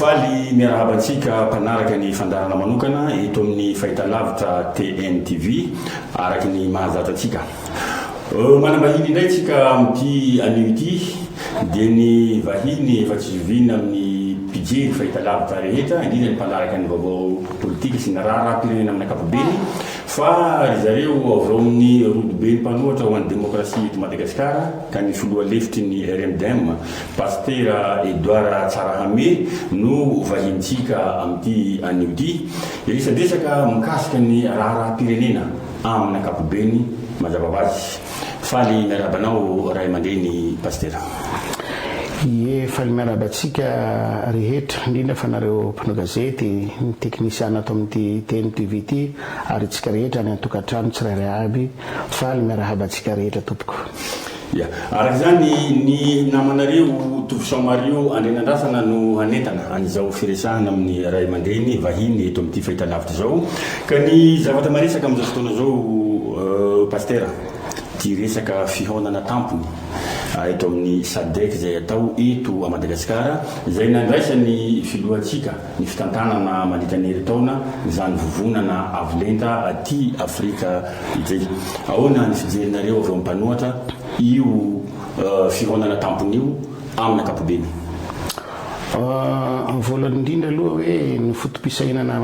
Faly miarahaba antsika mpanaraka ny fandaharana manokana eto amin'ny Fahitalavitra TNTV, araka ny mahazatra antsika. Manam-bahiny indray tsika amin'ity anio ity dia ny vahiny efa tsy zoviana amin'ny mpijery fahitalavitra rehetra, indrindra ny mpanaraka ny vaovao politika sy ny raharaham-pirenena amin'ny ankapobeny fa ry zareo avy ao amin'ny rodoben'ny mpanohatra ho an'ny demokrasia eto Madagasikara ka ny filoha lefitry ny RMDM, Pasitera Edouard Tsarahame no vahintsika amin'ity anio ity. Hiresadresaka mikasika ny raharaham-pirenena. Amin'ny ankapobeny mazava ho azy. Faly miarahaba anao ray amandreny Pasitera. Ie, faly miarahaba antsika rehetra, indrindra fa anareo mpanao gazety, ny teknisiana ato amin'ity TM TV ity, ary itsika rehetra any an-tokantrano tsirairay aby, faly miarahaba antsika rehetra tompoko. Ya. Araka izany, ny namanareo Tovo Sao Mario Andrianandrasana no hanentana an'izao firesahana amin'ny ray aman-dreny vahiny eto amin'ity fahitalavitra izao. Ka ny zavatra maresaka amin'izao fotoana izao Pasitera dia resaka fihaonana tampony eto amin'ny Sadec izay atao eto Madagasikara izay nandraisan'ny Filohantsika ny fitantanana mandritra ny herintaona izany vovonana avo lenta aty Afrika ity. Ahoana ny fijerinareo avy ao amin'ny mpanohatra io fihaonana tampony io amin'ny ankapobeny? Amin'ny voalohany indrindra aloha hoe ny foto-pisainana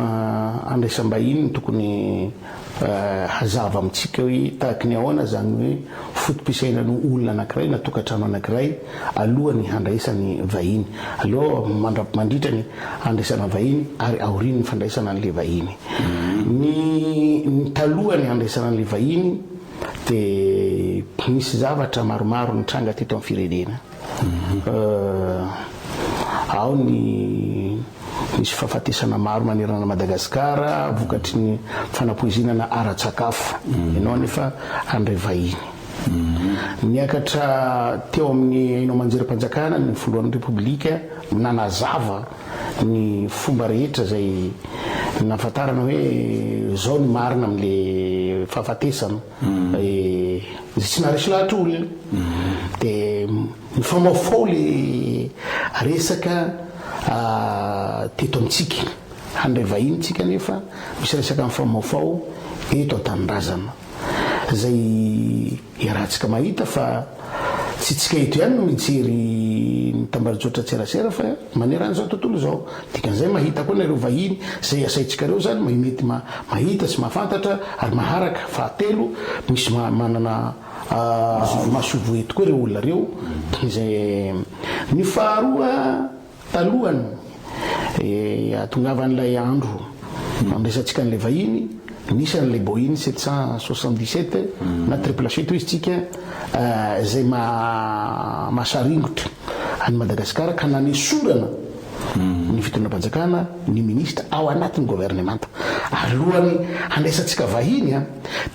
handraisam-bahiny no tokony Hazava amintsika hoe tahaka ny ahoana izany hoe foto-pisainan'ny olona anankiray na tokantrano anankiray alohan'ny handraisany vahiny, aloha, mandra, mandritra ny handraisana vahiny ary aorian'ny fandraisana an'ilay vahiny. Ny, ny talohan'ny handraisana an'ilay vahiny dia nisy zavatra maromaro nitranga teto amin'ny firenena. Ao ny nisy fahafatesana maro manerana an'i Madagasikara vokatry ny fanapoizinana ara-tsakafo. Ianao anefa handray vahiny. Niakatra teo amin'ny haino aman-jerim-panjakana ny Filohan'ny Repoblika nanazava ny fomba rehetra izay nahafantarana hoe izao ny marina amin'ilay fahafatesana. Izay tsy naharesy lahatra olona dia mifamaofao ilay resaka teto amintsika. Handray vahiny isika nefa misy resaka mifamaofao eto an-tanindrazana izay iarahantsika mahita fa tsy isika eto ihany no mijery ny tambajotra an-tserasera fa Manerana izao tontolo izao. Dikan'izay mahita koa nareo vahiny izay asaintsikareo izany mahay mety mahita sy mahafantatra ary maharaka. Fahatelo, misy manana masoivoho eto koa ireo olona ireo izay. Ny faharoa, talohan'ny hahatongavan'ilay andro handraisantsika an'ilay vahiny. Misy an'ilay Boeing sept cent soixante dix sept na triple sept hoy istsika izay mahasaringotra an'i Madagasikara ka nanesorana ny fitondram-panjakana ny minisitra ao anatin'ny governemanta. Ary lohany handraisantsika vahiny dia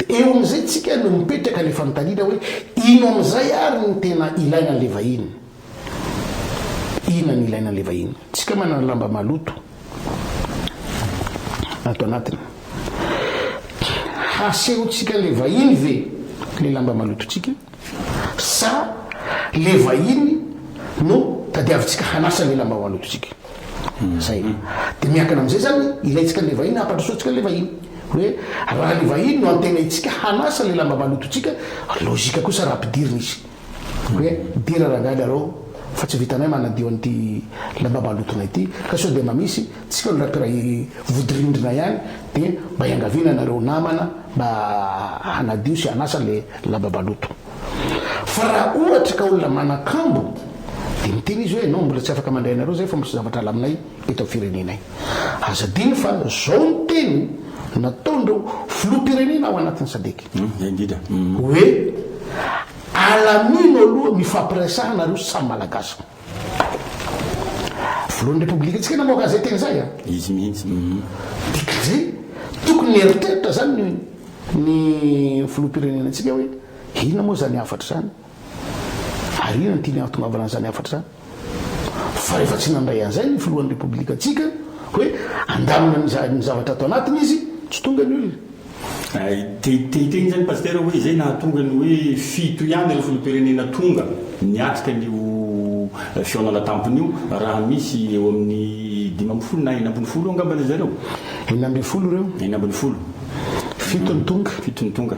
eo amin'izay istsika no mipetraka ilay fanontaniana hoe ino amin'izay ary no tena ilaina an'ilay vahiny. Inona no ilaina an'ilay vahiny? Tsika manana lamba maloto ato anatiny. Hasehontsika an'ilay vahiny ve ilay lamba malotontsika? Sa ilay vahiny no tadiavintsika hanasa ilay lamba malotontsika? Zay. Dia miankina amin'izay izany, ilaintsika an'ilay vahiny, hampandrosoantsika an'ilay vahiny. Hoe raha ilay vahiny no antenaintsika hanasa ilay lamba malotontsika, lojika kosa raha ampidirina izy. Hoe midera rangahy ianareo fa tsy vitanay manadio an'ity lamba malotonay ity ka sao dia mba misy tsika olona mpiray vodirindrina ihany dia mba hiangaviana ianareo namana mba hanadio sy hanasa ilay lamba maloto fa raha ohatra ka olona manan-kambo dia miteny izy hoe ianao mbola tsy afaka mandray anareo izay fa misy zavatra alaminay eto amin'ny firenenay. Aza adino fa izao ny teny nataon'ireo filoham-pirenena ao anatin'ny Sadc. Hoe alamino aloha mifampiresaha nareo samy malagasy. Filohan'ny Repoblika tsika namoaka an'izay teny izay an. Izy mihitsy. Dikan'izay tokony nieritreritra izany ny filoham-pirenena antsika hoe inona moa izany hafatra izany. Ary inona no tiany hahatongavana an'izany hafatra izany? Fa rehefa tsy nandray an'izay ny filohan'ny Repoblikantsika hoe handamina ny zavatra ato anatiny izy, tsy tonga ny olona. Te hiteny izany Pasitera hoe izay nahatonga ny hoe fito ihany ireo filoham-pirenena tonga niatrika an'io fihaonana tampony io raha misy eo amin'ny dimy ambin'ny folo na enina ambin'ny folo eo angamba ry zareo? Enina ambin'ny folo ireo. Enina ambin'ny folo. Fito ny tonga. Fito ny tonga.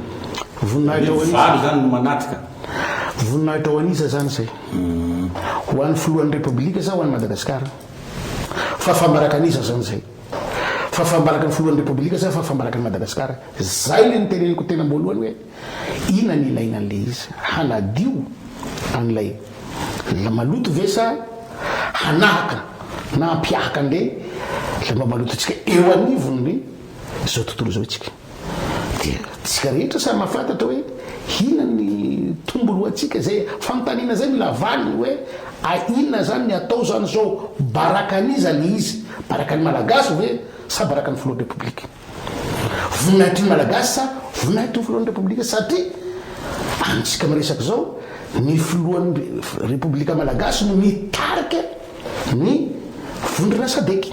Voninahitra ho an'iza? Ny valo izany no manatrika. Voninahitra ho an'iza izany izay? Ho an'ny filohan'ny Repoblika sa ho an'i Madagasikara? Fa fambaraka an'iza izany izay? Fa fambaraka ny filohan'ny Repoblika sa fa fambaraka an'i Madagasikara? Izay ilay noteneniko teny am-boalohany hoe inona no ilaina an'ilay izy? Hanadio an'ilay maloto ve sa hanahaka na hampihahaka an'ilay lamba malotontsika eo anivon'ny izao tontolo izao isika? Dia tsika rehetra samy mahafantatra hoe inona ny tombony ho antsika. Izay fanontaniana izay mila valiny hoe a inona izany ny atao izany izao? Barakan'iza le izy? Barakan'ny Malagasy ve sa barakan'ny Filohan'ny Repoblika? Voninahitry ny Malagasy sa voninahitry ny Filohan'ny Repoblika? Satria amintsika miresaka izao ny Filohan'ny Repoblika Malagasy no mitarika. Ny vondrona Sadec.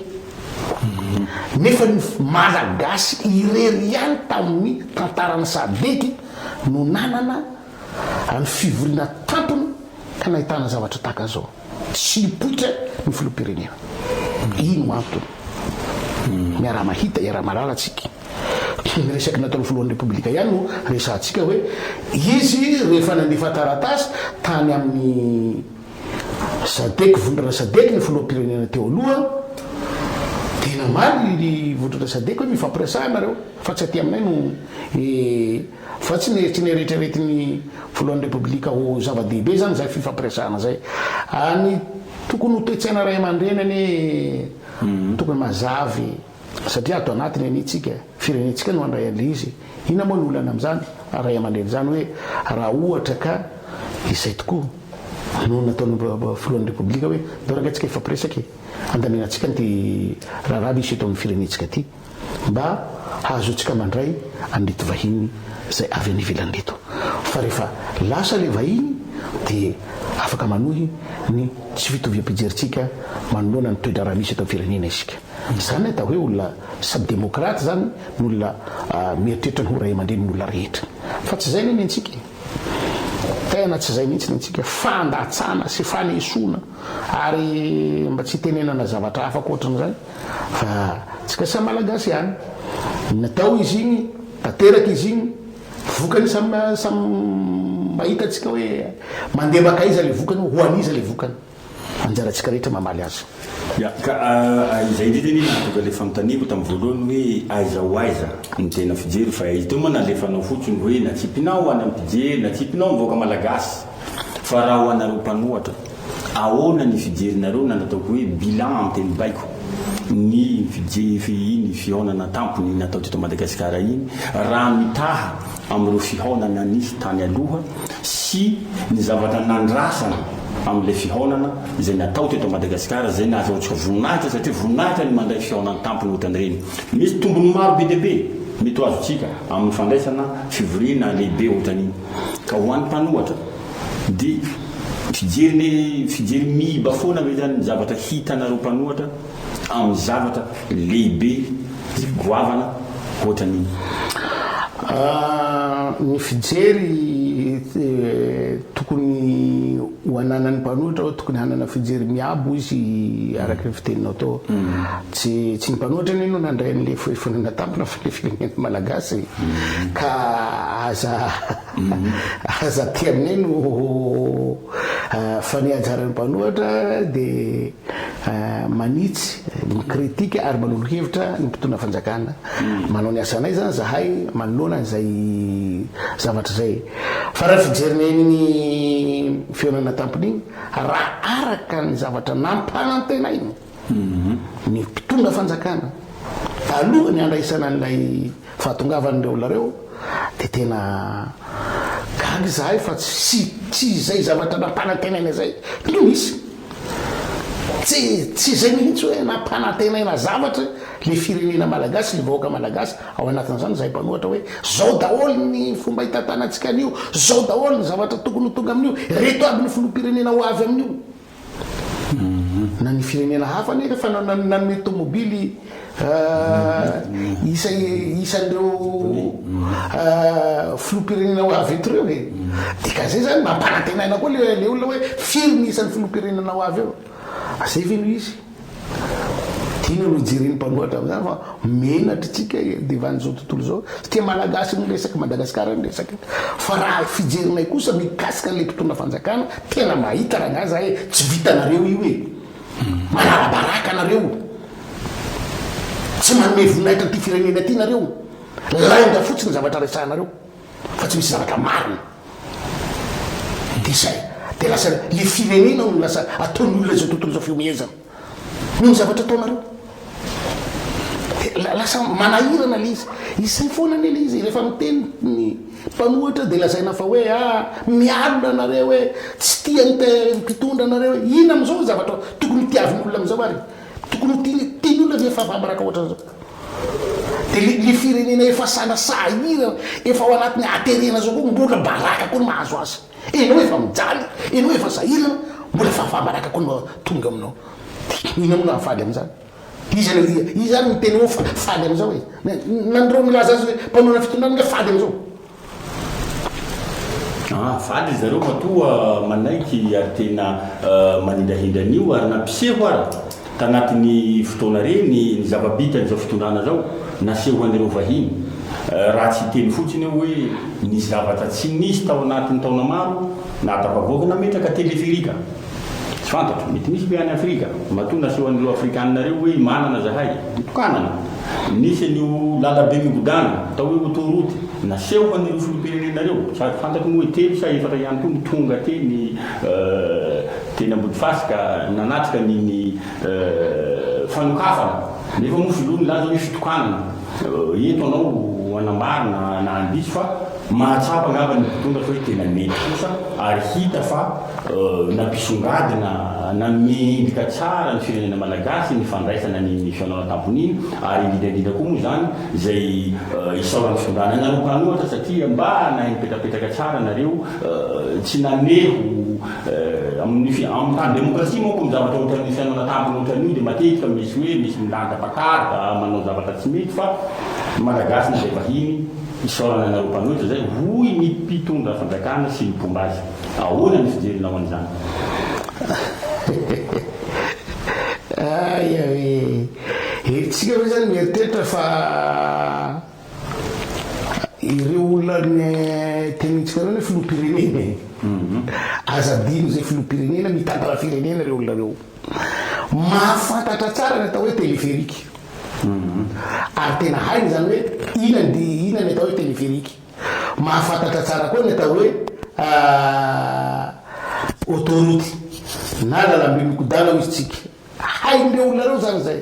Nefa ny Malagasy irery ihany tamin'ny tantaran'ny Sadec no nanana ny fivoriana tampony ka nahitana zavatra tahaka izao. Tsy nipoitra ny filoham-pirenena. Ino antony? Miara-mahita, iara-mahalala tsika. Ny resaky nataon'ny filohan'ny Repoblika ihany no resahantsika hoe izy rehefa nandefa taratasy tany amin'ny. Sadec vondrana sadec ny filoham-pirenena teo aloha dia namaly ny vondrana sadec hoe mifampiresaha nareo fa tsy aty aminay no e fa tsy tsy neritreretin'ny filohan'ny repoblika ho zava-dehibe zany zay fifampiresahana zay any tokony ho toe-tsaina ray aman-dreny anie tokony mazava e Satria ato anatiny anie tsika, firenentsika no handray an'le izy, inona moa no olana amin'izany? Ray aman-dreny izany hoe raha ohatra ka izay tokoa no nataon'ny filohan'ny repoblika hoe ndao ranga tsika hifampiresaka e, handamina tsika an'ity raharaha misy eto amin'ny firenentsika ity mba hahazoantsika mandray an'ireto vahiny izay avy any ivelany reto fa rehefa lasa le vahiny dia afaka manohy ny tsy fitoviam-pijerintsika manoloana ny toe-draharaha misy eto amin'ny firenena isika. Izany atao hoe olona sady demokraty izany ny olona mieritreritra ny ho ray aman-drenin' olona rehetra. Fa tsy izay anie ny antsika e! Tena tsy izay mihitsy ny antsika. Fandatsana sy fanesoana ary mba tsy hitenenana zavatra hafa ankoatran'izay fa antsika samy Malagasy ihany. Natao izy iny, tanteraka izy iny, vokany samy samy mahita antsika hoe mandeha mankaiza ilay vokany, ho an'iza ilay vokany. Anjarantsika rehetra mamaly azy. Ya, ka izay indrindra anie nahatonga ilay fanontaniako tamin'ny voalohany hoe aiza ho aiza ny tena fijery fa ito moa nalefanao fotsiny hoe natsipinao ho any amin'ny mpijery, natsipinao ny vahoaka malagasy fa raha ho anareo mpanohatra ahoana ny fijerinareo na ny ataoko hoe bilan amin'ny teny baiko ny fijery iny fihaonana an-tampony nataoteto Madagasikara iny raha mitaha amin'ireo fihaonana nisy tany aloha sy ny zavatra nandrasana amin'ilay fihaonana izay natao teto Madagasikara izay nahazoantsika voninahitra satria voninahitra ny mandray fihaonana an-tampony ohatran'ireny. Misy tombony maro be dia be mety ho azontsika amin'ny fandraisana fivoriana lehibe ohatran'iny ka ho an'ny mpanohatra dia fijery fijery miiba foana ve izany ny zavatra hitanareo mpanohatra? amin'ny zavatra lehibe sy goavana hoatran'iny? Ny fijery tokony ho ananan'ny mpanohitra hoe tokony hanana fijery miabo hoy izy araka ny fiteninao teo. Tsy tsy ny mpanohitra anie no nandray an'ilay foefona natampina fa ny firenena malagasy ka aza aza tia anay no fa ny anjaran'ny mpanohitra dia manitsy, mi-critique ary manolo hevitra ny mpitondra fanjakana. Manao ny asanay zany zahay manoloana an'izay zavatra izay. Fa raha ny fijerinay an'iny fihaonana tampony iny, raha araka ny zavatra nampanantenainy ny mpitondra fanjakana taloha ny handraisana an'ilay fahatongavan'ireo olona ireo dia tena gaga izahay fa tsy tsy izay zavatra nampanantenaina izay no nisy. Tsy tsy izay mihitsy hoe nampanantenaina zavatra ny firenena malagasy, ny vahoaka malagasy ao anatin'izany izahay mpanohatra hoe izao daholo ny fomba hitantanantsika an'io, izao daholo ny zavatra tokony ho tonga amin'io, ireto aby ny filoham-pirenena ho avy amin'io. Na ny firenena hafa anie efa nanome tomobily. isan'ireo filoham-pirenena ho avy eto ireo e, dikan'izay izany mampanantena aina koa ilay ilay olona hoe firy ny isan'ny filoham-pirenena ho avy eo? Zay ve no izy? Inona no jeren'ny mpanohatra amin'izany fa menatra isika devan' izao tontolo izao satria Malagasy no resaka, Madagasikara no resaka. Fa raha fijerinay kosa mikasika an'ilay mpitondra fanjakana tena mahita rangahy za e, tsy vitanareo io e. Manarabaraka anareo, tsy manome voninahitra an'ity firenena ity nareo, lainga fotsiny ny zavatra resahanareo fa tsy misy zavatra marina, de zay, de lasa le firenena no lasa ataon'olona izao tontolo izao fihomehezana noho ny zavatra ataonareo. Dia lasa manahirana ilay izy. Izay foana anie ilay izy. Rehefa miteny ny mpanohitra dia lazaina fa hoe ah, mialona nareo hoe tsy tia ny mpitondra nareo hoe. Inona amin'izao ny zavatra tokony hotiavin'olona amin'izao ary? Tokony ho tiany tiany olona ve ny fahavaraka ohatra izao? Dia ilay ilay firenena efa sana sahirana, efa ao anatin'ny haterena izao koa mbola baraka koa no mahazo azy. Ianao efa mijaly, ianao efa sahirana, mbola fahavaraka koa no tonga aminao. Hoy ianao raha faly amin'izany. Iza le iza? Iza ary no miteny hoe fa- faly amin'izao e? Na na an'ireo milaza azy hoe mpanorana fitondràna ange faly amin'izao. Ah, faly ry zareo matoa manaiky ary tena manindrahindra an'io ary nampiseho ary tanatin'ny fotoana re ny ny zava-bitan'izao fitondràna izao nasehon'ireo vahiny. Raha tsy hiteny fotsiny aho hoe nisy zavatra tsy nisy tao anatin'ny taona maro nahatafavoaka nametraka téléphérique. Tsy fantatro, mety misy ve any Afrika? Matoa naseho an'ireo Afrikanina ireo hoe manana zahay, mitokanana. Nisy an'io lalabe migodàna, atao hoe autoroute, naseho an'ireo filoham-pirenena ireo. Tsy azo fantatro moa hoe telo sa efatra ihany koa no tonga teny teny Ambodifasika nanatrika ny ny fanokafana. Nefa moa filoha nilaza hoe fitokanana. Eto anao hanambara na handiso fa mahatsapa angamba ny mpitondra fa hoe tena mety kosa ary hita fa nampisongadina, nanome endrika tsara ny firenena malagasy ny fandraisana ny mission-nao an-tamponiny ary indrindra indrindra koa moa izany izay isaoran'ny fitondrana anareo mpanohatra satria mba nahay nipetrapetraka tsara nareo tsy namehy ho Amin'ny tany demokrasia manko ny zavatra ohatran'ny fihaonana tampony ohatran'io dia matetika misy hoe misy milanja pakarda manao zavatra tsy mety fa ny Malagasy na dia vahiny isaorana anareo mpanohitra izay hoy ny mpitondra fanjakana sy ny mpomba azy. Ahoana ny fijerinao an'izany? Aia ee! Herintsika ve izany mieritreritra fa. Ireo olona tenenintsika ireo anie filoham-pirenena e! Aza adino izay filoham-pirenena mitantana firenena ireo olona ireo. Mahafantatra tsara ny atao hoe téléphérique. Ary tena hainy izany hoe inona ny inona ny atao hoe téléphérique. Mahafantatra tsara koa ny atao hoe autoroute na lalamby mikodana hoy isika. Hain'ireo olona ireo izany izay.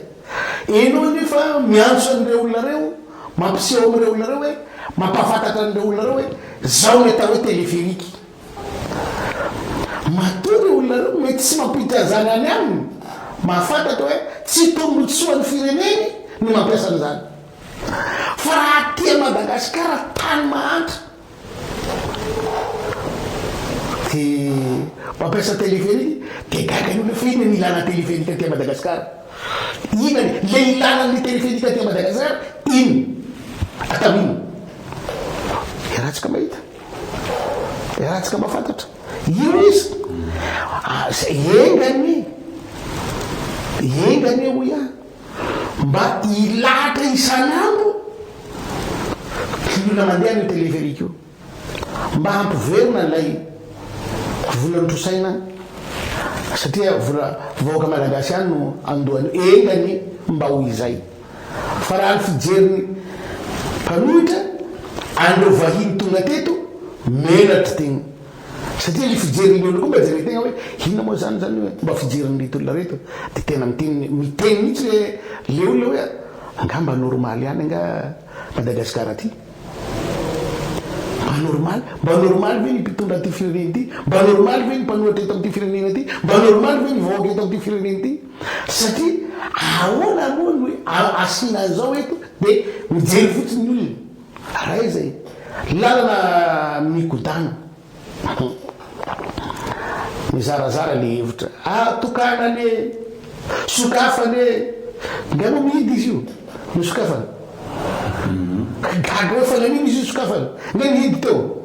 Ianao anefa miantso an'ireo olona ireo, mampiseho amin'ireo olona ireo hoe, mampahafantatra an'ireo olona ireo hoe, izao ny atao hoe téléphérique. Matoa ireo olona ireo mety tsy mampiditra an'izany any aminy, mahafantatra hoe tsy tombontsoan'ny fireneny ny mampiasa an'izany. Fa raha aty Madagasikara, tany mahantra, Tsy mampiasa téléphérique dia gaga ny olona fa inona ny ilana téléphérique aty Madagascar? Inona ny le ilana ny téléphérique aty Madagascar inona? Atao inona? Iarahantsika mahita, iarahantsika mahafantatra. Io izy. Ah, enga anie, enga anie hoy aho. mba hilahatra isan'andro ny olona mandeha amin'io téléphérique io mba hampiverina an'ilay vola notrosaina satria vola vahoaka malagasy ihany no andohany engany mba ho izay fa raha ny fijeriny mpanohitra an'ireo vahiny tonga teto menatra teny Satria le fijerin'ny olona koa mba jereo tegna hoe inona moa zany zany hoe fomba fijerin'ireto olona reto de tena miteny miteny mihitsy le le olona hoe angaha mba normaly ihany angaha Madagascar aty? Mba normaly? Mba normaly ve ny mpitondra an'ity firenena ity? Mba normaly ve ny mpanohatra eto amin'ity firenena ity? Mba normaly ve ny vahoaka eto amin'ity firenena ity? Satria ahoana moa no asiana an'izao eto de mijery fotsiny ny olona. Raha izay lalana migodàna. Mizarazara le hevitra ary tokana anie e! Sokafana anie e! Nga moa mihidy izy io no sokafana? Gaga hoe fanamiana izy io sokafana? Nga nihidy teo?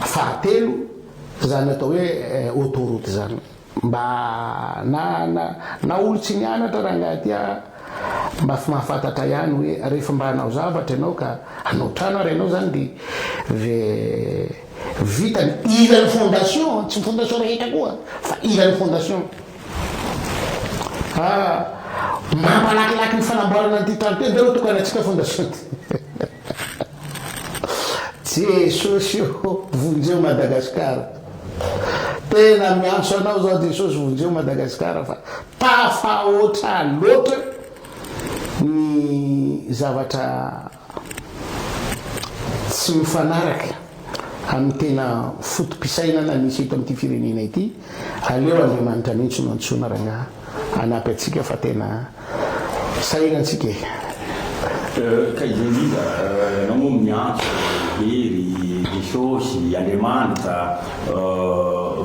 Fahatelo, izany atao hoe autoroute izany mba na na na olo tsy nianatra rangahy ty a mba mahafantatra ihany hoe rehefa mba hanao zavatra ianao ka hanao trano ary ianao izany dia ve vita ny ila ny fondation tsy ny fondation rehetra koa fa ila ny fondation fa mampalakilaky ny fanamboarana an'ity trano ty ve no tokanatsika fondation ty Jesosy o vonjeo Madagascar Tena miantso anao zao Jesosy vonjeo Madagascar fa tafahoatra loatra ny zavatra tsy mifanaraka amin'ny tena foto-pisainana misy eto amin'ity firenena ity aleo Andriamanitra mihitsy no antsoina rangaha. hanampy antsika fa tena sahirana antsika e! Ka izay iza ianao moa miantso Hery, Jesosy, Andriamanitra,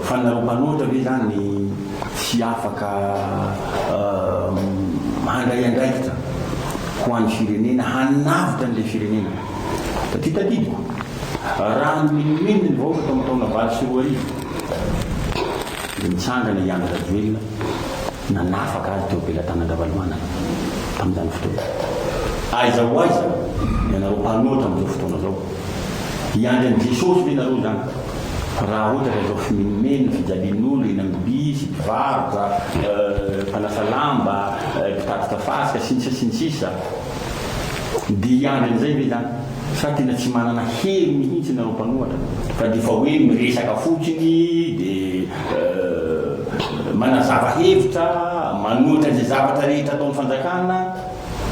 fa nareo mpanoatra ve izany tsy afaka handray andraikitra ho an'ny firenena, hanavotra an'ilay firenena? Taty tadidiko, raha nomenomenina ny vahoaka tamin'ny taona valo sy roa arivo, dia nitsangana i Andry Rajoelina nanafaka azy teo am-pelatanan'Ravalomanana tamin'izany fotoana. Aiza ho aiza ianareo mpanoatra amin'izao fotoana izao? Hiandry an'i Jesosy ve ianareo izany? Raha ohatra ka izao fimenomenona, fijalian'olona, eny amin'ny bisy, mpivarotra, mpanasa lamba, mpitatitra fasika, sy ny sisa sy ny sisa, Dia i Andry amin'izay ve zany sa tena tsy manana hery mihintsy nareo mpanohatra fa dia efa hoe miresaka fotsiny dia manazava hevitra, manohitra izay zavatra rehetra ataon'ny fanjakana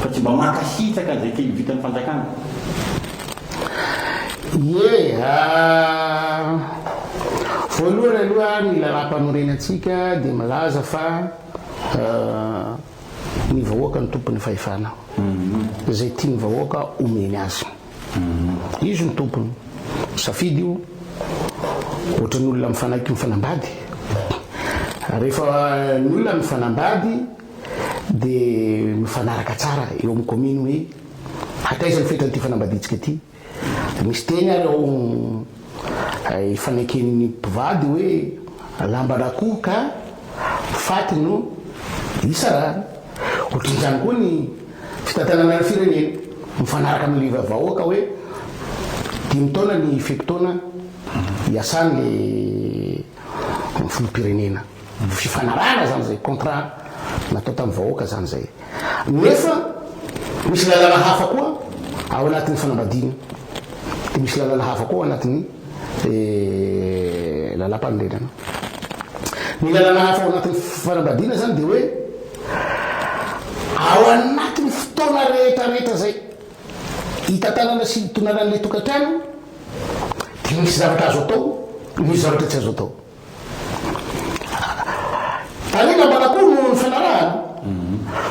fa tsy mba mankasitraka an'izay kely vitan'ny fanjakana. Ie, voalohany aloha ny lalàmpanorenantsika dia milaza fa. Ny vahoaka no tompon'ny fahefana. Izay tian'ny vahoaka omeny azy. Izy no tompony. Safidy io. Ohatran'ny olona mifanaiky mifanambady. Rehefa ny olona mifanambady dia mifanaraka tsara eo amin'ny kaominy hoe hataiza ny fetran'ity fanambadiantsika ity. Misy teny ary ao ifaneken'ny mpivady hoe lamban-drakoho ka faty no isarahana. Ohatrin'izany koa ny fitantanana ny firenena. Mifanaraka amin'ny liva vahoaka hoe dimy taona ny fe-potoana iasan'ilay filoham-pirenena. Fifanarahana zany zay, contrat natao tamin'ny vahoaka zany zay. Nefa misy lalàna hafa koa ao anatin'ny fanambadiana, dia misy lalàna hafa koa ao anatin'ny lalàmpanorenana. Ny lalàna hafa ao anatin'ny fanambadiana zany dia hoe ao anatin'ny fotoana rehetra rehetra zay hitantanana sy hitonanan'ilay tokantrano dia misy zavatra azo atao, misy zavatra tsy azo atao. Any namana koa no nifanarahana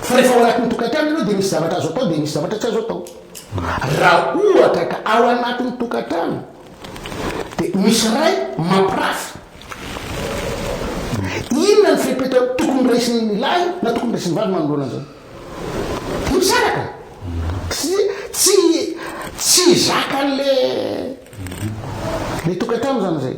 fa rehefa ao anatin'ny tokantrano ianao dia misy zavatra azo atao dia misy zavatra tsy azo atao. Raha ohatra ka ao anatin'ny tokantrano dia misy ray mampirafy, inona ny fepetra tokony raisin'ny lahy na tokony raisin'ny vavy manoloana an'izany? Dia misaraka. Tsy tsy tsy zakan'le le tokantrano izany izay.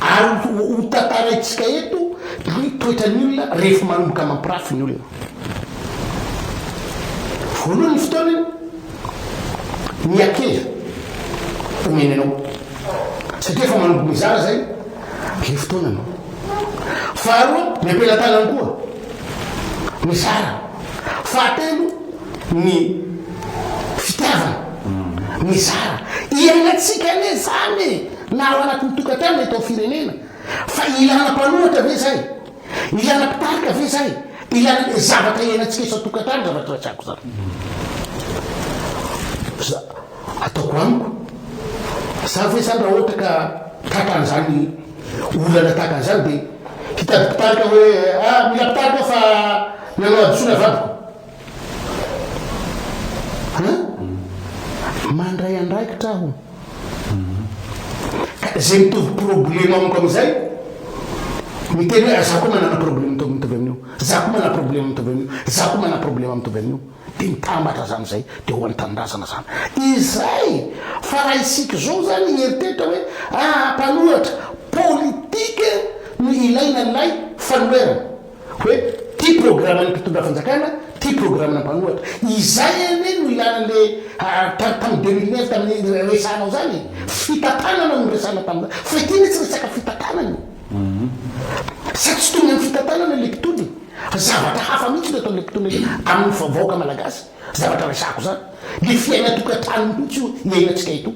Ary hotantaraintsika eto ny toetran'ny olona rehefa manomboka mampirafy ny olona. Voalohany ny fotoana ny akela omeny anao satria efa manomboka mizara zay le fotoana anao. Faharoa ny ampelatanany koa mizara. Fahatelo ny fitiavana mizara iainantsika anie zany e na ao anatin'ny tokantrano na eto amin'ny firenena fa ilana mpanoratra ve zay ilana mpitarika ve zay ilana zavatra iainantsika isan tokantrano zavatra resako zany za ataoko amiko za ve zany raha ohatra ka tratra an'izany olana tahaka an'izany de hitady mpitarika hoe a ah, mila mpitarika fa nanao hadisoana vadiko Ha? Mandray andraikitra aho. Ka izay mitovy problema amiko amin'izay, miteny hoe za koa manana problema mitovy mitovy amin'io, za koa manana problema mitovy amin'io, za koa manana problema mitovy amin'io, dia mitambatra izany izay, dia ho an'ny tanindrazana izany. Izay! Fa raha isika izao izany hieritreritra hoe ah mpanohatra, politique no ilaina ilay fanoherana. hoe ty programan'ny mpitondra fanjakana, ty programana mpanohatra. Izay anie no ilana an'le tam tamin'ny deux mille neuf tamin'ny resahanao zany e! Fitantanana no resahana tamin'izany fa ity anie tsy resaka fitantanana e! Sady tsy tonga ny fitantanana le mpitondra e! Fa zavatra hafa mihitsy no ataon'le mpitondra ity amin'ny vahoaka malagasy. zavatra resahako zany, le fiaina tokantrano mihitsy io iainantsika eto,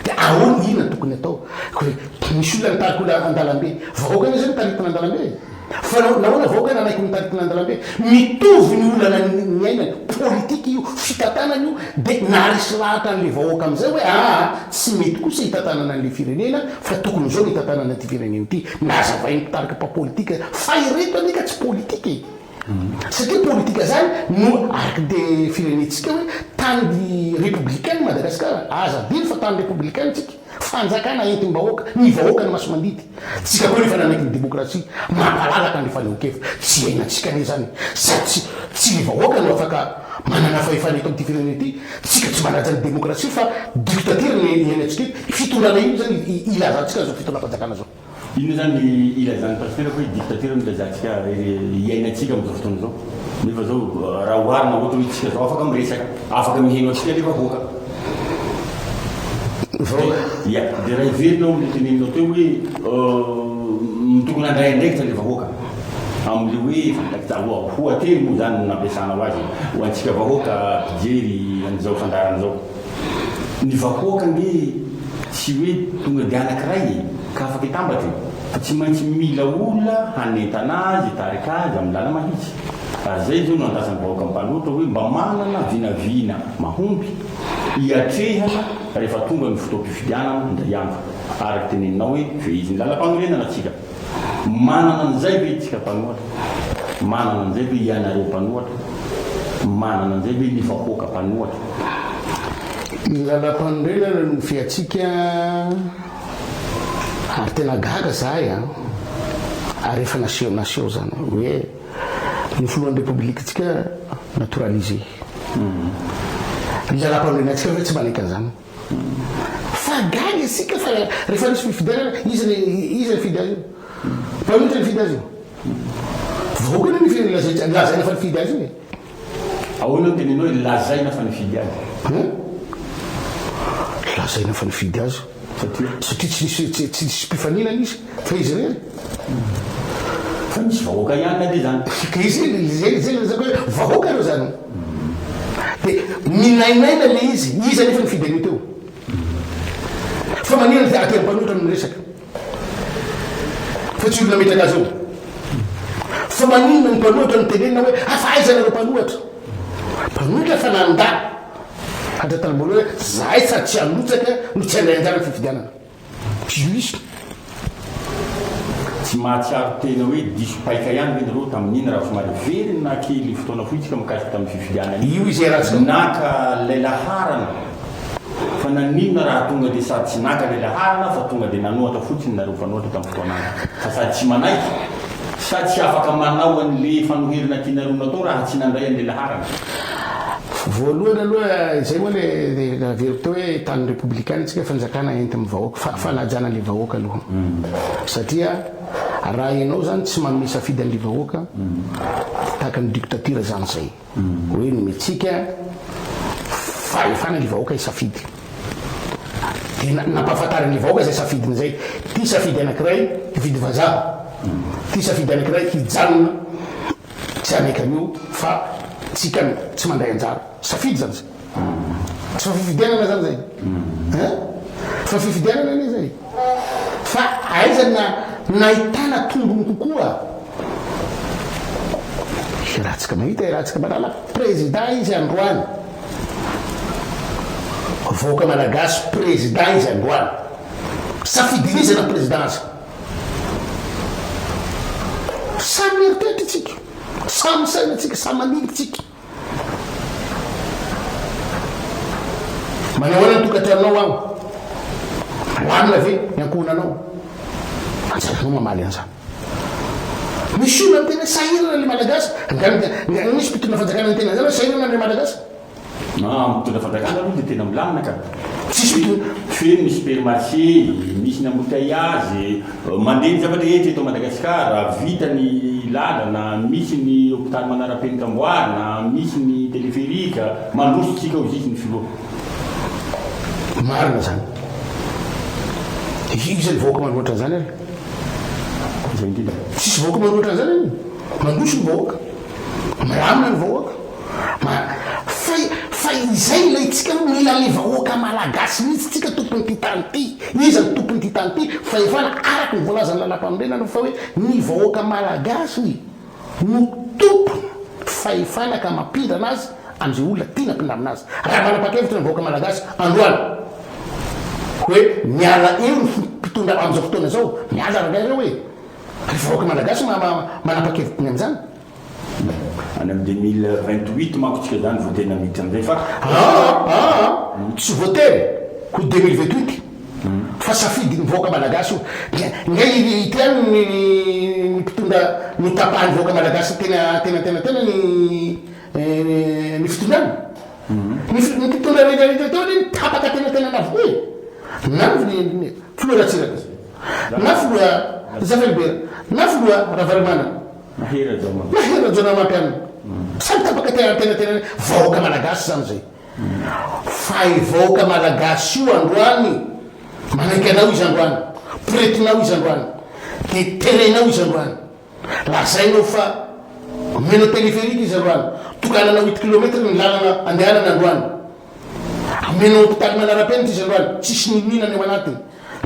de ahoana ina no tokony atao, ko le misy olona nitarika olona andalambe, vahoaka anie zay nitaritina andalambe e, fa nahoana vahoaka nanaiky nitaritina andalambe, mitovy ny olana niainany, politika io, fitantanana io, de naharesy lahatra anle vahoaka amizay hoe aa tsy mety kosa itantanana anle firenena fa tokony zao no itantanana ty firenena ty, nazavain'ny mpitarika mpa politika fa ireto anie ka tsy politika e. Satria politika zany no arc de firenentsika hoe tany republicaine Madagascar aza adino fa tany republicaine tsika fanjakana entim bahoaka ny vahoaka no masimandidy tsika koa nefa nanaiky ny demokrasia mampalalaka ny fanehonkevitra tsy iainantsika anie zany sady tsy tsy ny vahoaka no afaka manana fahefana eto amty firenena ity tsika tsy manaja ny demokrasia fa dictature no iainantsika eto fitondrana inona zany ilazantsika zao fitondram panjakana zao. Inona izany ny ilazan'ny Pasitera fa i dictature no ilazantsika iainantsika amin'izao fotoana izao? Nefa izao raha oharina ohatra hoe isika izao afaka miresaka, afaka miheno antsika anefa vahoaka. Vahoaka? Ia. Dia raha heverina ao ilay teneninao teo hoe tokony handray andraikitra ilay vahoaka amin'ilay hoe fandraki-tsarohao. Hoateny moa izany no nampiasana ho azy ho antsika vahoaka mpijery an'izao fandaharana izao. Ny vahoaka ange tsy hoe tonga dia anankiray e, ka afaka hitambatra e, fa tsy maintsy mila olona hanentana azy, hitarika azy amin'ny làlana mahitsy. Ary izay izao no andrasan'ny vahoaka mpanoatra hoe mba manana vinavina mahomby hiatrehana rehefa tonga ny fotoam-pifidianana indray andro, araka teneninao hoe fehizin'ny làlam-panorenana tsika. Manana an'izay ve isika mpanohatra? Manana an'izay ve ianareo mpanohatra? Manana an'izay ve ny vahoaka mpanohatra? Ny lalam-panorenana no fiatsika ary tena gaga zahay a! Ary efa naseho naseho zany hoe ny filohan'ny Repoblikantsika naturalisé. Ny lalam-panorenantsika ve tsy manaiky an'izany? Fa gaga isika fa rehefa misy fifidianana iza le iza nifidy azy io? Mpanohitra nifidy azy io? Vahoaka anie ny firenena lazaintsika lazaina fa nifidy azy io e! Ahoana no tenenao hoe lazaina fa nifidy azy? Hein? Lazaina fa nifidy azy Satria? satria tsy nisy tsy tsy nisy mpifaninana izy fa izy irery. Fa misy vahoaka ihany anie zany. Ka izay izay izay ilazako hoe vahoaka reo zany. Dia minainaina ilay izy, iza anefa no fidèle teo? Fa maninona dia aty amin'ny mpanoratra no miresaka fa tsy olona metraka azy eo? Fa maninona ny mpanoratra no tenenina hoe afa aiza nareo mpanoratra? Mpanoratra fa nandà hatratramin'ny voalohany hoe zahay sady tsy hanotsaka no tsy handray anjara ny fifidianana. Juste tsy mahatsiaro tena hoe diso paika ihany ve nareo tamin'iny raha somary hiverina kely fotoana fohy tsika mikasika tamin'ny fifidianana iny? Io izay raha tsy naka ilay laharana fa naninona raha tonga dia sady tsy naka ilay laharana fa tonga dia nanohatra fotsiny nareo mpanohatra tamin'ny fotoana any fa sady tsy manaiky sa tsy afaka manao an'ilay efa noherina tianareo natao raha tsy nandray an'ilay laharana? Voalohany aloha izay moa le averiko teo hoe tanin'ny Repoblikanina isika, fanjakana entin'ny vahoaka, fa- fanajana an'le vahoaka aloha. Satria raha ianao izany tsy manome safidy an'le vahoaka, tahaka ny dictature izany izay. Hoe nomentsika fahefana le vahoaka hisafidy. De na- nampahafantarin'le vahoaka izay safidiny izay. Ty safidy anankiray, hifidy vazaha. Ty safidy anankiray, hijanona. Tsy hanaiky an'io fa tsika tsy mandray anjara. Safidy zany zay. Tsy fa fifidianana zany zay eh? Fa fifidianana anie zay. Fa aiza ny nahitana tombony kokoa? Iarahantsika mahita, iarahantsika manala. Prezida izy androany. Vahoaka Malagasy, prezida izy androany. Safidin'izy hanao prezida azy. Samy mieritreritra isika, samy misaina isika, samy maniry isika. Manao ahoana ny tokantranonao aho? Malamina ve ny ankohonanao? Antsaranao mamaly an'izany. Misy olona miteny hoe sahirana ilay Malagasy, angamba misy mpitondra fanjakana miteny an'izany hoe sahirana ilay Malagasy. Maha mitondra fanjakana aloha dia tena milamina ka. Tsisy hoe hoe feno ny supermarché, misy ny embouteillages, mandeha ny zavatra rehetra eto Madagasikara, vita ny lalana, misy ny hopitaly manarapenitra amboarina, misy ny téléphérique, mandroso isika hozizy ny filoha. Marina zany. Iza ny vahoaka manohatra an'izany ary? Izay indrindra. Tsisy vahoaka manohatra an'izany anie. Mandroso ny vahoaka. Milamina ny vahoaka. Ma, fay, fay izay ilay tsika mila le vahoaka malagasy mihitsy tsika tompon'ity tany ity, iza no tompon'ity tany ity, fahefana araka ny voalazan'ny lalàmpanorenana fa hoe ny vahoaka malagasy no tompon fahefana ka mampindrana azy amin'izay olona tiana ampindramina azy, raha manapakevitra ny vahoaka malagasy androany hoe miala eo ny mpitondra amin'izao fotoana izao, miala rangahy reo e, ry vahoaka malagasy ma, ma, manapakevitra ny amin'izany. Any amin'ny deux mille vingt huit manko tsika zany vao tena miditra amin'izay fa. Aa tsy voatery ho deux mille vingt huit fa safidin'ny vahoaka malagasy io. Nga ity any ny mpitondra notapahan'ny vahoaka malagasy tena tena tena tena ny ny fitondrana? Ny mpitondra rehetra rehetra teo anie tapaka tena tena navokoa e! Na ny filoha Ratsiraka na filoha Zafy Albert na filoha Ravalomanana Mahery Rajaonareo. Mahery Rajaonanamapy an. Samy tapaka te hahantena tena ny vahoaka malagasy zany zay. Fa i vahoaka malagasy io androany manaiky anao izy androany, poretinao izy androany, de terenao izy androany, lazainao fa omenao téléphérique izy androany, tokananao huit kilomètre ny lalana andehanany androany, omenao hôpital manarapenitra izy androany, tsisy ninoninana eo anatiny.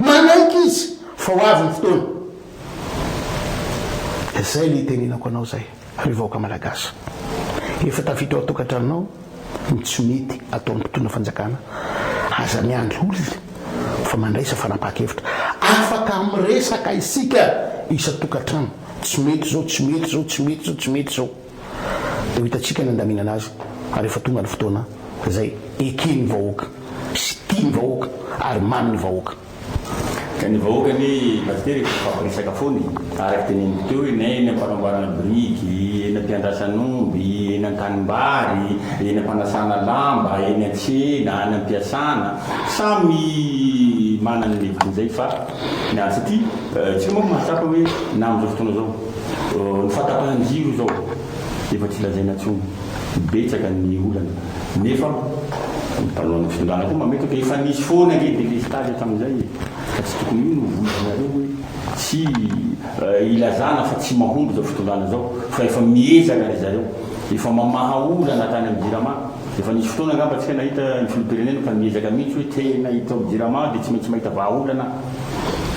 Manaiky izy fa ho avy ny fotoana. Izay ny itenenako anao izay ry vahoaka Malagasy. Efa tafiditra ao an-tokantranonao ny tsy mety ataon'ny mpitondra fanjakana. Aza miandry olona fa mandraisa fanapahan-kevitra. Afaka miresaka isika isan-tokantrano. Tsy mety izao, tsy mety izao, tsy mety izao, tsy mety izao. dia ho hitantsika ny handaminana azy ary efa tonga ny fotoana izay eken'ny vahoaka sy tian'ny vahoaka ary mamin'ny vahoaka. Ka ny vahoaka anie Pasitera efa mifampiresaka foana e! Araka teneniko teo hoe na eny ampanamboarana biriky, eny ampiandrasana omby, eny antanimbary, eny ampanasana lamba, eny antsena, any ampiasana, samy manana ny levitiny izay fa ny antsika, isika manko mahatsapa hoe na amin'izao fotoana izao, Ny fahatapahan' ny jiro izao efa tsy lazaina intsony, betsaka ny olana nefa ny mpanao ny fitondrana koa mametraka efa nisy foana ange delestazy hatramin'izay e! Ka tsy tokony io no voizinareo hoe tsy ilazana fa tsy mahomby izao fitondrana izao fa efa miezaka ry zareo, efa mamaha olana hatrany amin'ny Jirama, efa nisy fotoana angamba tsika nahita ny filoham-pirenena fa niezaka mihitsy hoe tena hitaho Jirama dia tsy maintsy mahita vahaolana,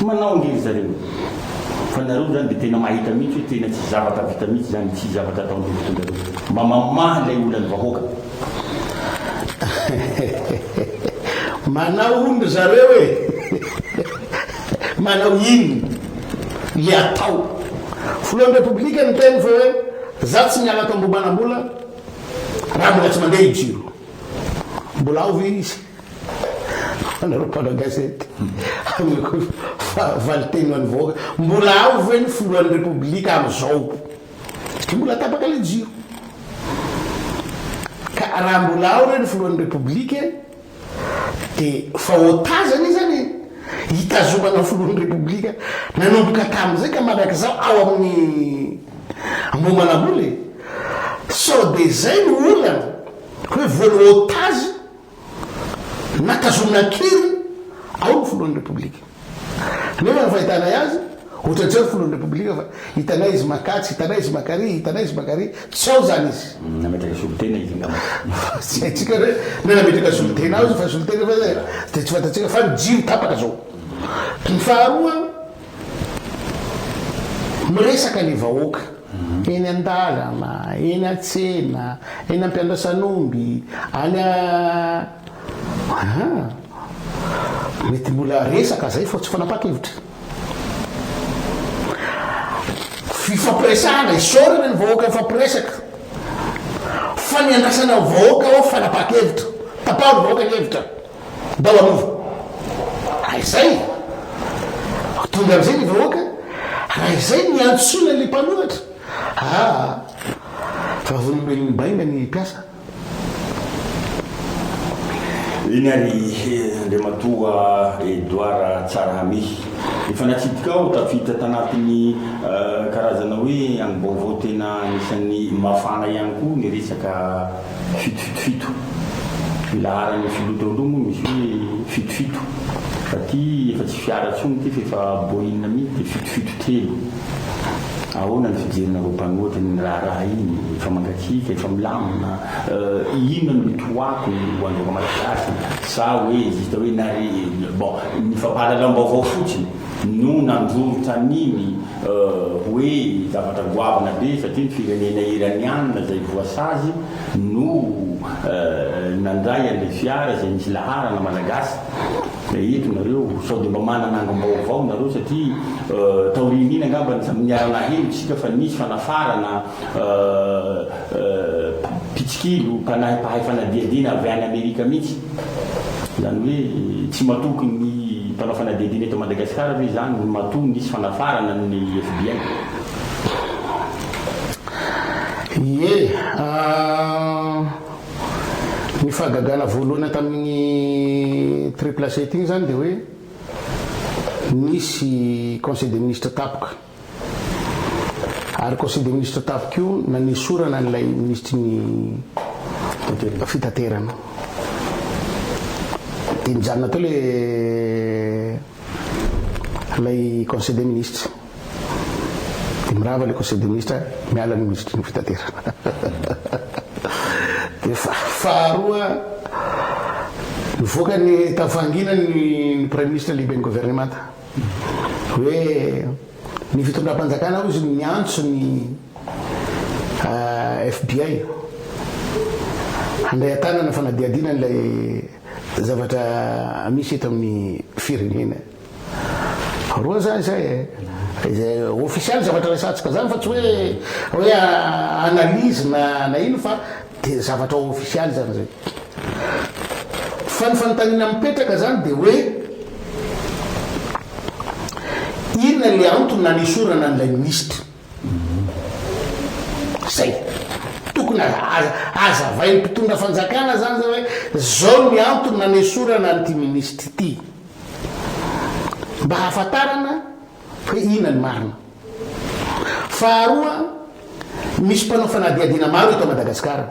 manao ange ry zareo e! Fa nareo zany de tena mahita mihitsy hoe tena tsisy zavatra vita mihitsy zany, tsisy zavatra ataon'ireo mpitondra ireo. Mba mamaha ilay olan'ny vahoaka. Manao ony ry zareo e! Manao iny le atao. Filohan'ny Repoblika niteny fa hoe za tsy miala tamboho manambola raha mbola tsy mandeha i jiro. Mbola ao ve izy? Fanarao mpanao gazety aminy ko fa valiteny ho an'ny vahoaka mbola ao ve ny filohan'ny repoblika amizao satria mbola tapaka le jiro ka raha mbola ao re ny filohan'ny repoblika de fa otazana izy zany hitazomana filohan'ny repoblika nanomboka tamin'izay ka mandrakizao ao amin'ny ambomanambola e sao de zay no olana hoe voany otazy Naka zo nakiry ao ny filohan'ny Repoblika. Nefa ny fahitanay azy, ohatra tsy ao ny filohan'ny Repoblika fa hitanay izy maka atsy, hitanay izy maka ary, hitanay izy maka ary, tsy ao izany izy. Nametraka solontena izy angamba. Fa tsy haintsika hoe na nametraka solontena ao izy fa solontena efa izay dia tsy fantatsika fa ny jiro tapaka izao. Ny faharoa, miresaka ny vahoaka. Eny an-dalana, eny an-tsena, eny am-piandrasan'omby, any a. Aha! Mety mbola resaka izay fa tsy fanapahan-kevitra. Fifampiresahana, isaorana ny vahoaka mifampiresaka. Fa ny andrasana ny vahoaka ao fanapahan-kevitra. Tapaho ny vahoaka ny hevitra. Ndao hanova. Raha izay, ho tonga amin'izay ny vahoaka, raha izay no iantsoana ilay mpanohitra, aa vavolombelom-baina ny mpiasa. Eny ary Andriamatoa Edouard Tsarahami. Efa natsidika aho tafiditra tanatin'ny karazana hoe angom-baovao tena anisan'ny mafana ihany koa ny resaka Fito fito fito. Ny laharan'ny filoha teo aloha moa misy hoe fito fito. Fa ty efa tsy fiara tsony ity fa efa boina mihintsy dia fito fito telo. Ahoana ny fijerinareo mpanohatra iny raharaha iny? Efa mangatsiaka, efa milamina. Euh inona no toako ho an'ireo malagasy? Sa hoe juste hoe nare bon ny fampahalalam-baovao fotsiny no nandrorotra an'iny? Hoe zavatra goavana be satria ny firenena Iraniana izay voasazy no nandray an'ilay fiara izay nisy laharana Malagasy. Eto nareo sao dia mba manana angom-baovao nareo satria taorian'iny angamba ny niara-naheno isika fa nisy fanafarana Mpitsikilo, mpanahy mpahay fanadihadiana avy any Amerika mihitsy. Izany hoe tsy matoky ny mpanao fanadihadiana eto Madagasikara ve izany matoa nisy fanafarana ny FBI? Ie. Ny fahagagana voalohany tamin'iny Triple Sept iny izany dia hoe nisy Conseil des Ministres tapoka. Ary Conseil des ministres tafika io nanesorana an'ilay minisitry ny fitaterana. Dia nijanona teo ilay ilay Conseil des ministres. Dia mirava ilay Conseil des ministres, miala ny minisitry ny fitaterana. Dia faharoa nivoaka ny tavangiana ny Praiministra lehiben'ny governemanta. hoe ny fitondram-panjakana hoy izy no miantso ny FBI handray an-tanana ny fanadihadiana an'ilay zavatra misy eto amin'ny firenena. Roa izany izay e. Izay ofisialy zavatra resahantsika izany fa tsy hoe hoe analyse na na ino fa Dia zavatra ofisialy izany izay. Fa ny fanontaniana mipetraka izany dia hoe inona ilay antony nanesorana an'ilay minisitra? Izay. Tokony hazavain'ny mpitondra fanjakana izany izay hoe izao ny antony nanesorana an'ity minisitra ity. Mba hahafantarana. hoe inona ny marina. Faharoa, misy mpanao fanadihadiana maro eto Madagasikara.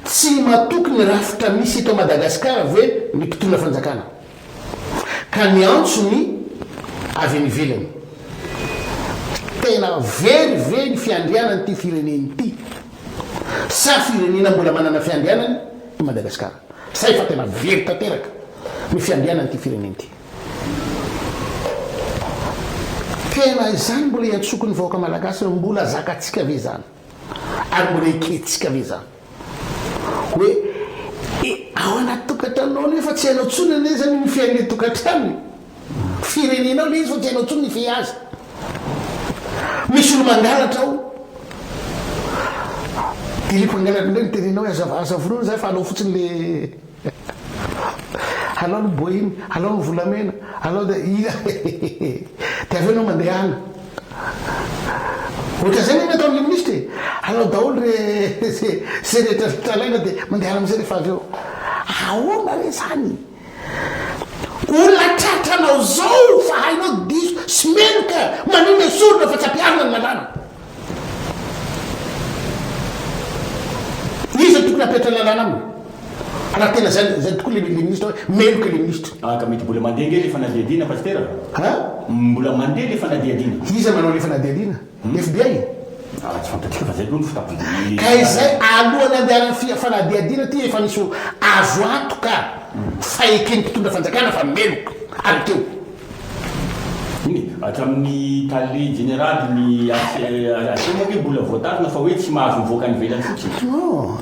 Tsy matoky ny rafitra misy eto Madagasikara ve ny mpitondra fanjakana ka miantso ny avy any ivelany. Tena very ve ny fiandrianan'ity firenena ity sa firenena mbola manana fiandrianany i Madagasikara? Sa efa tena very tanteraka ny fiandrianan'ity firenena ity? Tena izany mbola iantsoako ny vahoaka malagasy hoe mbola zakatsika ve izany ary mbola ekentsika ve izany hoe ao anaty tokantranonao anie fa tsy hainao intsony anie izany ny fihain'ny tokantranony, firenenao ilay izy fa tsy hainao intsony ny fihia azy. Misy olo-mangalatra ao dia ilay mpangalatra indray miterena hoe aza aza vonoina izany fa alao fotsiny ilay Alao ny boiny, alao ny volamena, alao dia inona dia avy eo enao mandeha any. Ohatran'izay ny nataon'ilay minisitra e! Alao daholo re izay rehetra tranaina dia mandehana amin'izay rehefa avy eo. Ahoana re izany? Olona tratranao izao fa hainao diso sy meloka manome sorona fa tsy ampiharina ny lalàna. Iza no tokony hapetra lalàna aminy? Raha tena zay zay tokoa le le ministre hoe meloka le ministre. Ah ka mety mbola mandeha ange le fanadihadiana Pasitera a? An? Mbola mandeha le fanadihadiana? Iza manao le fanadihadiana? FBI? Ah tsy fantatsika fa zay aloha no fitafy. Ka izay alohan'ny andehanan'ny fi fanadihadiana ty efa nisy azo antoka fa eken'ny mpitondra fanjakana fa meloka avy teo. Eny, hatramin'ny tale jeneraly ny ACM ve mbola voatazona fa hoe tsy mahazo mivoaka any ivelany fotsiny? Non,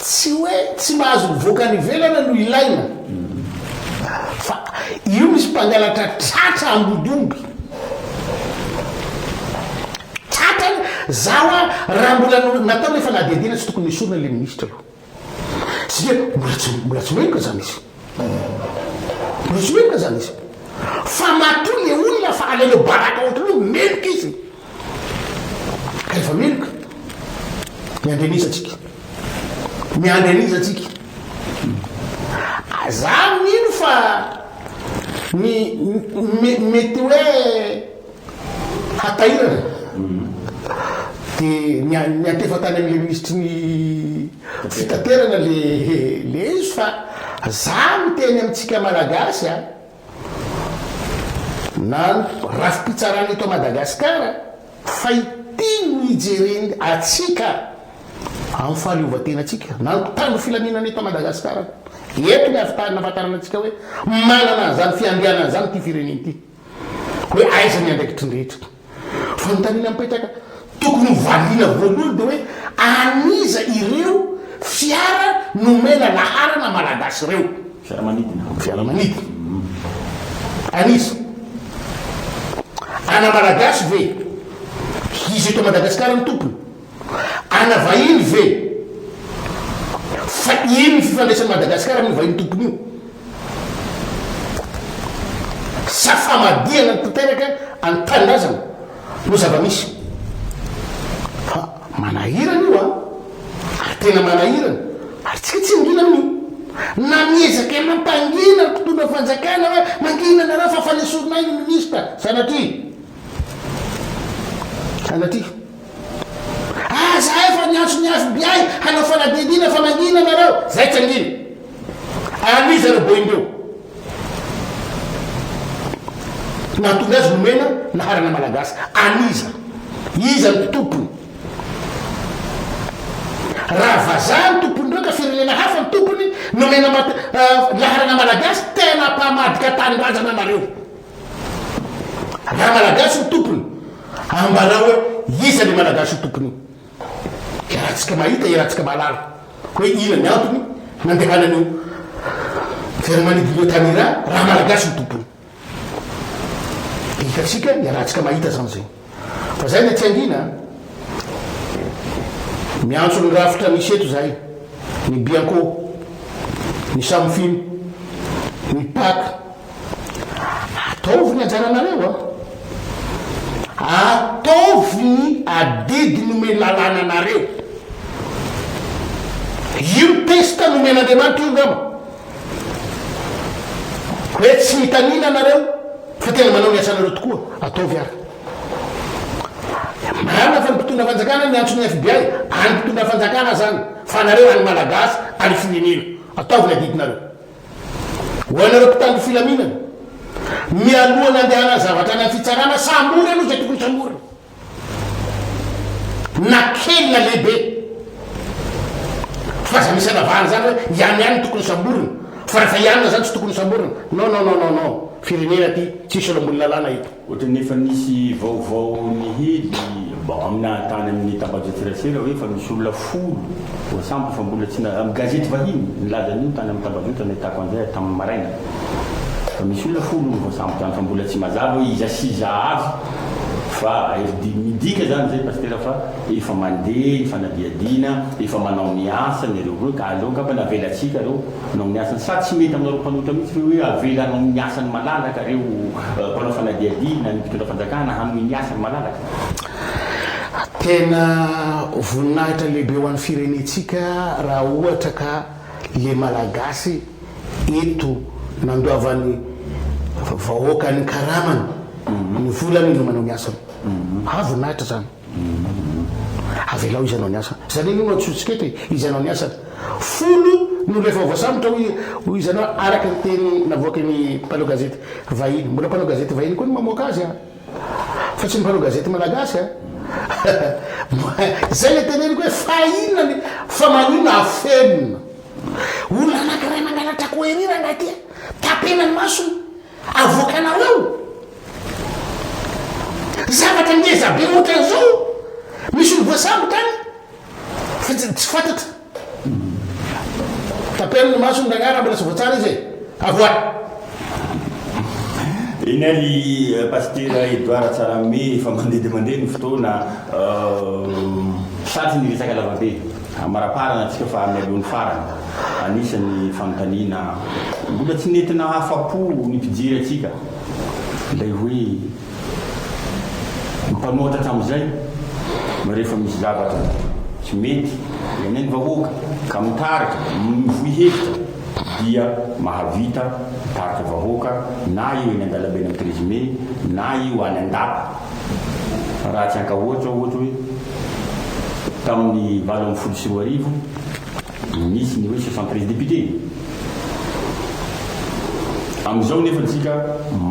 tsy hoe tsy mahazo mivoaka any ivelana no ilaina fa io misy mpangalatra tratra ambodiomby. Tratra, za hoa raha mbola natao le fanadihadiana tsy tokony nesorina le ministra aloha. Tsia, mbola tsy, mbola tsy menoka zany izy. Mbola tsy menoka zany izy. Fa matoa le olona fa alainao baraka entre nous, meloka izy. Ka efa meloka. Miandry an'iza tsika? Miandry an'iza tsika? Za mino fa ny me, mety hoe. hatairana dia niantefa tany amin'ilay minisitry ny fitaterana le le izy fa za no teny amintsika malagasy a na rafi-pitsarana eto Madagasikara fa ity no hijereny atsika amin'ny fahaleovantenantsika na ny mpitandro filaminana eto Madagasikara eto ny avy tany nafantarana antsika hoe manana an'izany fiandrianana izany ity firenena ity hoe aiza ny andraikitry ny rehetra. Fanontaniana mipetraka tokony ho valiana voalohany dia hoe an'iza ireo fiara nomena laharana Malagasy ireo? Fiaramanidina. Fiaramanidina. An'iza? Ana Malagasy ve? Hisy eto Madagasikara ny tompony? Ana vahiny ve? Fa ino ny fifandraisan'i Madagasikara amin'io vahiny tompony io? Sa famadihana tanteraka an'ny tanindrazana no zava-misy? Fa manahirana io an! Ary tena manahirana, ary tsika tsy mangina amin'io. Na miezaka mampangina ny mpitondra fanjakana hoe mangina nareo fa fanesorinay ny minisitra, sanatria! Sanatria! Aza efa niantso ny fbi hanao fanadihadiana fa mangina nareo zay tsangina ary zareo boindreo nahatonga azy nomena naharana malagasy aniza iza ny tompony raha vazaha ny tompon'ireo ka firenena hafa ny tompony nomena mat- ah, laharana malagasy tena mpamadika tanindrazana nareo Raha malagasy ny tompony, ambarao hoe iza le malagasy ho tompon'io. Iarahantsika mahita, iarahantsika mahalala hoe inona ny antony nandehanan'io fiaramanidina io tany Iran raha malagasy no tompony. Dia hitantsika, iarahantsika mahita izany izay. Fa zay le tsy angiana a! Miantso ny rafitra misy eto zahay, ny Bianco, ny Samfin, ny pac, ataovy ny anjaranareo a! Ataovy ny adidy nomen'ny lalàna anareo! Io test nomen'Andriamanitra io ngamba! Hoe tsy mitanila nareo? Fa tena manao ny asanareo tokoa, ataovy ary. Marina fa ny mpitondra fanjakana no miantso ny FBI, any mpitondra fanjakana zany, fa anareo any Malagasy ary firenena, ataovy ny adidinareo. Ho anareo mpitandro filaminana, mialoha nandehanan'ny zavatra any amin'ny fitsarana, sambory aloha izay tokony samborina. na kely na lehibe fa aza misy anavahana zany hoe ihany ihany no tokony hosamborina fa rehefa ihany na zany tsy tokony hosamborina non non non non non firenena ty tsisy olo ambony lalàna eto. Ohatran'ny efa nisy vaovao nihely bon amina tany amin'ny tambajotran-tserasera hoe efa misy olona folo voasambotra fa mbola tsy na, amin'ny gazety vahiny nilaza an'io tany amin'ny tambajotra nahitako an'izay tamin'ny maraina fa misy olona folo hono voasambotra any fa mbola tsy mazava hoe iza sy iza avy. Fa midika izany ve Pasitera fa efa mandeha ny fanadihadiana, efa manao ny asany ireo hoe ka aleo angamba navelatsika ireo hanao ny asany? Sa tsy mety aminareo mpanohitra mihitsy ve hoe avela hanao ny asany malalaka ireo mpanao fanadihadiana, ny mpitondra fanjakana hanohy ny asany malalaka? Tena voninahitra lehibe ho an'ny firenentsika raha ohatra ka. le malagasy eto nandoavany vahoaka ny karamany ny volany no manao ny asany ah voninahitra zany avelao izy anao ny asany zany anie no atsotsiketo e izy anao ny asany folo no rehefa voasambotra hoy hoy izy anao araka ny teny navoaky ny mpanao gazety vahiny mbola mpanao gazety vahiny koa ny mamoaka azy a Fa tsy ny mpanao gazety malagasy a! Izay ilay teneniko hoe fa inona ny fa maninona afenina? Olona anankiray mangalatra query rangahy ity a! Tapena ny masony, avoakanao eo! Zavatra ngeza be ohatran'izao misy olo voasambotra any fa tsy fantatry. Tapelo ny masony ragnah raha mbola tsy voatsara izy e! Avoahy! Eny ary Pasitera Edouard Tsaramibe efa mandeha dia mandeha ny fotoana, sarotra ny resaka lavabe. Amaraparana antsika fa mialoha ny farany. Anisan'ny fanontaniana mbola tsy nety nahafa-po ny mpijery antsika ilay hoe. Mifanohitra hatramin'izay ny rehefa misy zavatra tsy mety enen'ny vahoaka ka mitarika, mivoy hevitra dia mahavita mitarika vahoaka na io eny an-dalambe eny amin'ny treize mai na io any an-dapa. Raha tsy ankaohatra ohatra hoe tamin'ny valo ambin'ny folo sy roa arivo, Nisy ny hoe soixante treize députés. Amin'izao nefa tsika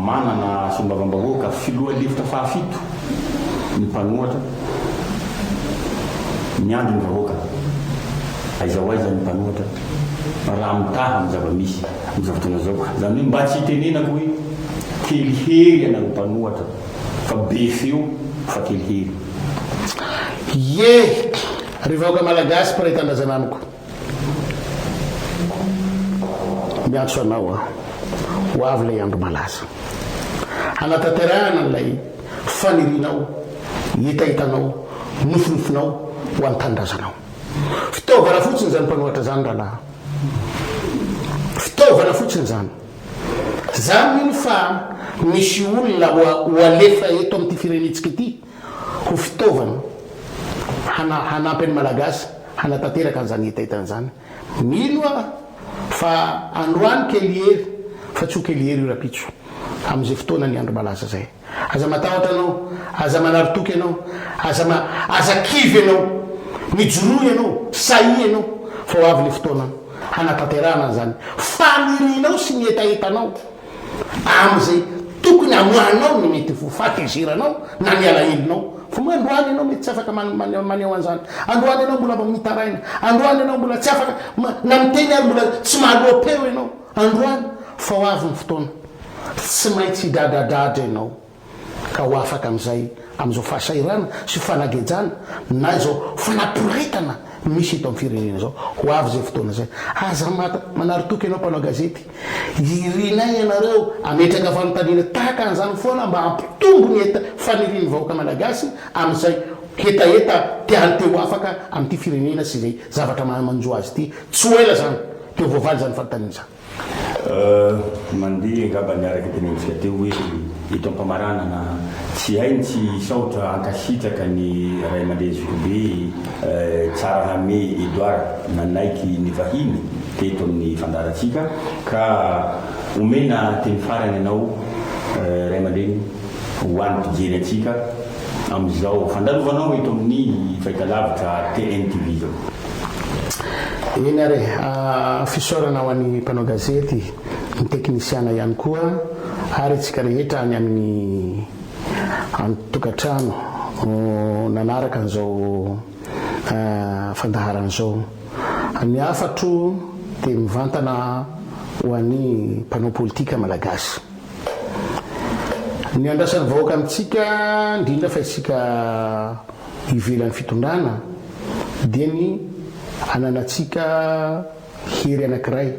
manana solombavambahoaka filoha lefitra fahafito ny mpanohatra miandry ny vahoaka. Aiza ho aiza ny mpanohatra raha mitaha amin'ny zava-misy amin'izao fotoana izao. Izany hoe mba tsy hitenenako hoe kely hery ianareo mpanohatra fa be feo fa kely hery. Ie! Ry vahoaka Malagasy mpiray tanindrazana amiko, miantso anao aho, ho avy ilay andro malaza. Hanatanterahana an'ilay fanirianao, hetahetanao, nofinofinao ho an'ny tanindrazanao. Fitaovana fotsiny izany mpanoratra izany rahalahy. Fitaovana fotsiny izany. Za mino fa misy olona ho alefa eto amin'ity firenentsika ity. ho fitaovana hana hanampy an'i Malagasy hanatanteraka an'izany hetahetany izany. Mino aho fa androany kelihery, fa tsy ho kelihery io rapitso, amin'izay fotoana ny andro malaza izay. Aza matahotra ianao, aza manary toky ianao, aza ma aza kivy ianao, mijoroa ianao, sahia ianao, fa ho avy ilay fotoana hanatanterahana an'izany fanirianao sy ny hetahetanao. amin'izay tokony hamoahanao ny mety ho fahatezeranao na ny alahelonao. Fa moa androany ianao mety tsy afaka maneho an'izany? Androany ianao mbola vao mitaraina? Androany ianao mbola tsy afaka na miteny ary mbola tsy mahaloa-peo ianao? Androany? Fa ho avy ny fotoana, tsy maintsy hidradradradra ianao. ka ho afaka amin'izay amin'izao fahasahiranana sy fanagejana na izao fanaporetana misy eto amin'ny firenena izao. Ho avy izay fotoana izay. Aza manary toky ianao mpanao gazety. Irinay ianareo hametraka fanontaniana tahaka an'izany foana mba hampitombo ny heta fanirian'ny vahoaka malagasy amin'izay hetaheta tiany te ho afaka amin'ity firenena sy izay zavatra maha manjo azy ity. Tsy ho ela izany dia ho voavaly izany fanontaniana izany. Euh mandeha angamba ny araka tenentsika teo hoe eto ampamaranana tsy hay ny tsy hisaotra hankasitraka ny ray aman-dreny zokibe euh Tsarahame Edouard nanaiky nivahiny teto amin'ny fandaharantsika ka omena teny farany ianao euh ray aman-dreny ho an'ny mpijery antsika amin'izao fandalovanao eto amin'ny fahitalavitra TNTV izao. Eny ary e! Fisaorana ho an'ny mpanao gazety, ny teknisiana ihany koa ary antsika rehetra any amin'ny an-tokantrano nanaraka an'izao fandaharana izao. Ny hafatro dia mivantana ho an'ny mpanao politika malagasy. Ny andrasan'ny vahoaka amintsika, indrindra fa isika ivelan'ny fitondrana dia ny ananantsika hery anankiray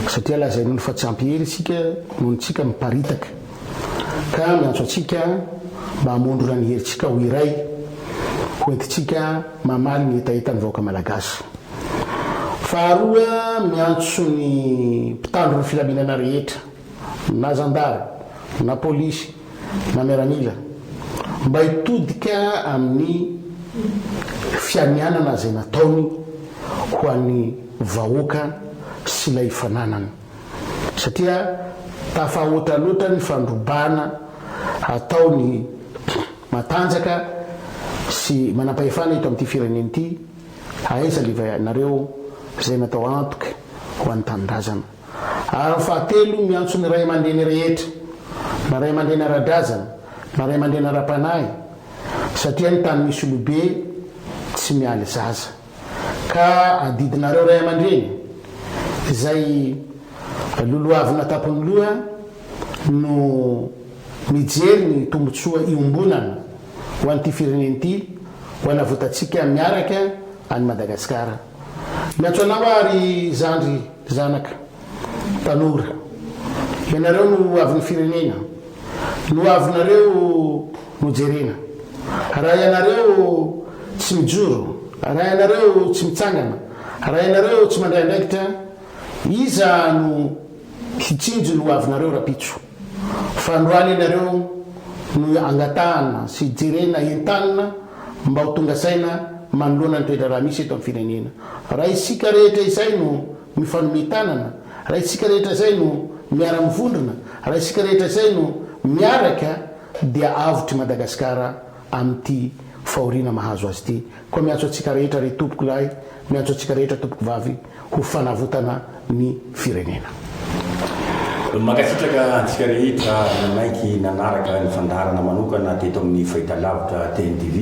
satria lazain'olo fa tsy ampy hery isika noho ny tsika miparitaka ka miantso antsika mba hamondrona ny herintsika ho iray ho entintsika mamaly ny hetahetan'ny vahoaka malagasy. Faharoa miantso ny mpitandro ny filaminana rehetra. na zandary, na polisy, na miaramila, mba hitodika amin'ny fianianana izay nataony ho an'ny vahoaka sy ilay fananany, satria tafahoatra loatra ny fandrobana ataon'ny matanjaka sy manampahefana eto amin'ity firenena ity, aiza leva ianareo izay natao antoky ho an'ny tanindrazana. ary ny fahatelo miantso ny ray aman-dreny rehetra, na ray aman-dreny ara-drazana na ray aman-dreny ara-panahy, satria ny tany misy olobe tsy mialy zaza. Ka adidinareo ray aman-dreny, izay lolohavina an-tampon'ny loha no mijery ny tombontsoa iombonana ho an'ity firenena ity, ho an'avotantsika miaraka an'i Madagasikara. Miantso anao aho ry zandry zanaka tanora. Ianareo no ho avin'ny firenena. Ny ho avinareo no jerena. Raha ianareo tsy mijoro, raha ianareo tsy mitsangana, raha ianareo tsy mandray andraikitra, iza no hitsinjo ny ho avinareo rampitso? Fandroana ianareo no angatahana sy jerena entanina mba ho tonga saina manoloana ny toe-draharaha misy eto amin'ny firenena. Raha isika rehetra izay no mifanome tanana, raha isika rehetra izay no miara-mivondrona, raha isika rehetra izay no miaraka dia avotry Madagasikara amin'ity fahoriana mahazo azy ity. Koa miantso antsika rehetra ry Tompoko lahy, miantso antsika rehetra Tompoko vavy ho fanavotana ny firenena. Mankasitraka antsika rehetra nanaiky nanaraka ny fandaharana manokana teto amin'ny Fahitalavitra TNTV.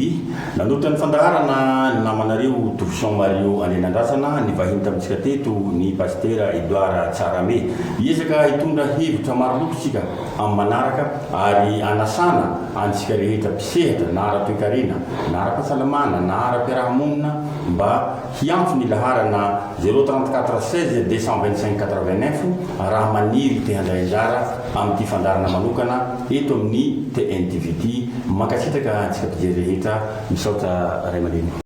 Nanolotra ny fandaharana ny namanareo Tofion Mario Andrianandrasana, ny vahiny tamintsika teto, ny Pasitera Edouard Tsarame. Hiezaka hitondra hevitra maro loko isika. amin'ny manaraka ary hanasana antsika rehetra mpisehatra na ara-toekarena na ara-pahasalamana na ara-piarahamonina mba hiantso ny laharana zéro trente quatre seize deux cent vingt cinq quatre vingt neuf raha maniry te handray anjara amin'ity fandaharana manokana eto amin'ny TNTV ity. Mankasitraka antsika mpijery rehetra. Misaotra Ray aman-dreny.